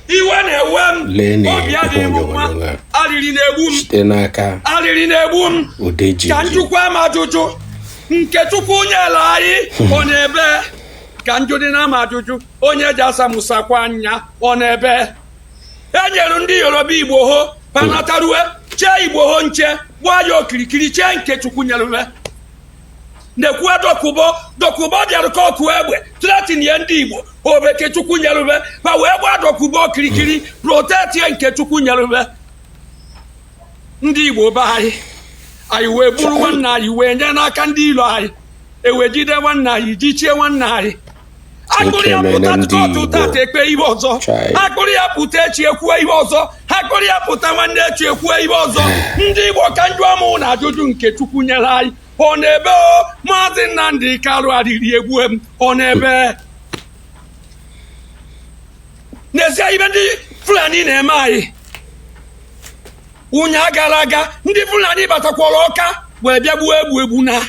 iwe na-ewe m obi adịghị m mma arịrị na-egbu m arịrị na-egbu m ka njụkwa m ajụjụ nke chukwu nyere anyị ọ nọ ebee ka njụdị na m ajụjụ onye ja-asa mụ sakwa anya ọ nọ ebee e nyere ndị yoruba igboho pa natarue chee igboho nche gbaa ya okirikiri chee nke chukwu nyere nekwue dokubo dokubo bịara ka ọkụ egbe tretinye ndị igbo ọ bụ nke chukwu nyeru be ba wee gbaa dokubo okirikiri protektie nke chukwu nyeru be ndị igbo be anyị anyị wee buru nwanne anyị wee nye n'aka ndị ilo anyị e wee jide nwanne anyị jichie nwanne anyị akpụrụ ya pụta kọtụ tata ekpee ihe ọzọ akpụrụ ya pụta echi ekwuwe ihe ọzọ akpụrụ ya pụta nwanne echi ekwuwe ihe ọzọ ndị igbo ka njụa mụ ụnụ ajụjụ nke chukwu nyere anyị ọ nọ ebee o maazị nnamdị kanu arịrị egbue m ọ nọ ebee nezie ibe ndị fulani na-eme anyị ụnyaa gara aga ndị fulani batakwara ọka wee bịa gbuo egbu egbu na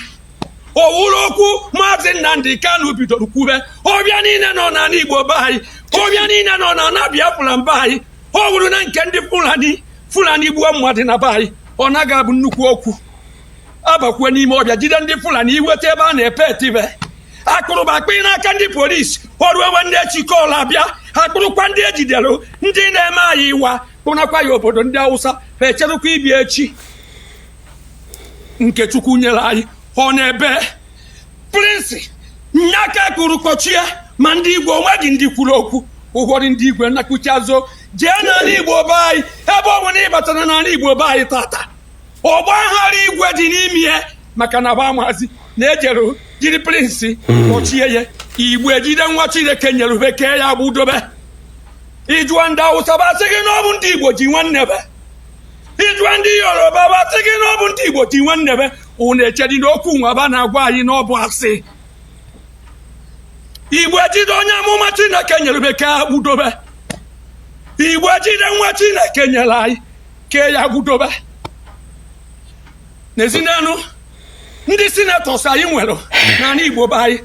ọ wụrụ okwu maazị nnamdị kanu bidoro kwube ọbịa niile nọ n'ala igbo be anyị ọbịa niile nọ n'ala biafra mba anyị ọ wụrụ na nke ndị fulani fulani gbuo mmadụ na be anyị ọ naghị abụ nnukwu okwu a bakwuo n'ime ọbịa jide ndị fulani iweta ebe a na-epe etibe akpụrụ ba kpụye n'aka ndị polisi ọrụ ewe ndị echikọla abịa akpụrụkwa ndị ejidere ndị na-eme anyị iwa kpụnakwa ya obodo ndị awụsa echerụkwa ibi echi nke chukwu nyere anyị ọ nọ ebee prịzịn nya ka a kpụrụ kpọchie ma ndị igwe onweghị ndị kwuru okwu ụfọdụ ndị igwe nakuchazo jee n'ala igbo be anyị ebe ọ bụla ị batara n'ala igbo be anyị tata ọgba aghara igwe dị n'ime ya maka na ba amazi na ejere jiri prịzịn kpọchie ya igbo ejide nwa chineke nyeru be kee ya gbudobe ịjụọ ndị awụsa ba sị gị na ọ bụ ndị igbo ji nwanne be ịjụọ ndị yoruba ba sị gị na ọ bụ ndị igbo ji nwanne be ụnụ echedi na okwu nwa ba na-agwa anyị na ọ bụ asị igbo ejide onye amụma chineke nyere be kee ya gbudobe igbo ejide nwa chineke nyere anyị kee ya gbudobe nezienụ ndị sinetọs anyị nwere n'ala igbo be anyị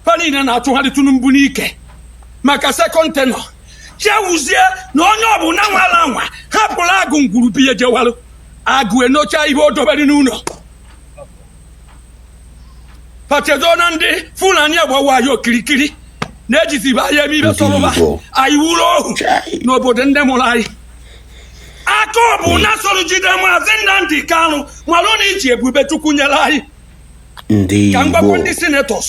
fa niile na-achụgharị tinubu n'ike maka sekọnd tenọ ya wuzie na onye ọbụla nwala anwa hapụrụ agụ ngwuru biye jewalụ agụ enocha ihe o dobere n'ụlọ pa chedo na ndị fulani agbawa anyị okirikiri na-ejizibe anyị eme ibe sọrọ ba anyị wuru ohu n'obodo ndị mụrụ anyị aka ọ bụ na soro jide maazị nnamdị kanu malụ na iji ebube chukwu nyere anyị ka m gwakwa ndị senetọs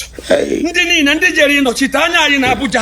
ndị niile ndị jere ịnọchite anya anyị na abuja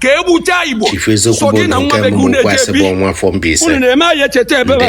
ka e gbuchaa Igbo Chief Eziokwu so bụ gị na nwa nke be gị mbụ unu kwasị bụ ejebi nwa afọ Mbaise. unu na-eme anyị echeta ebe a Ndewo.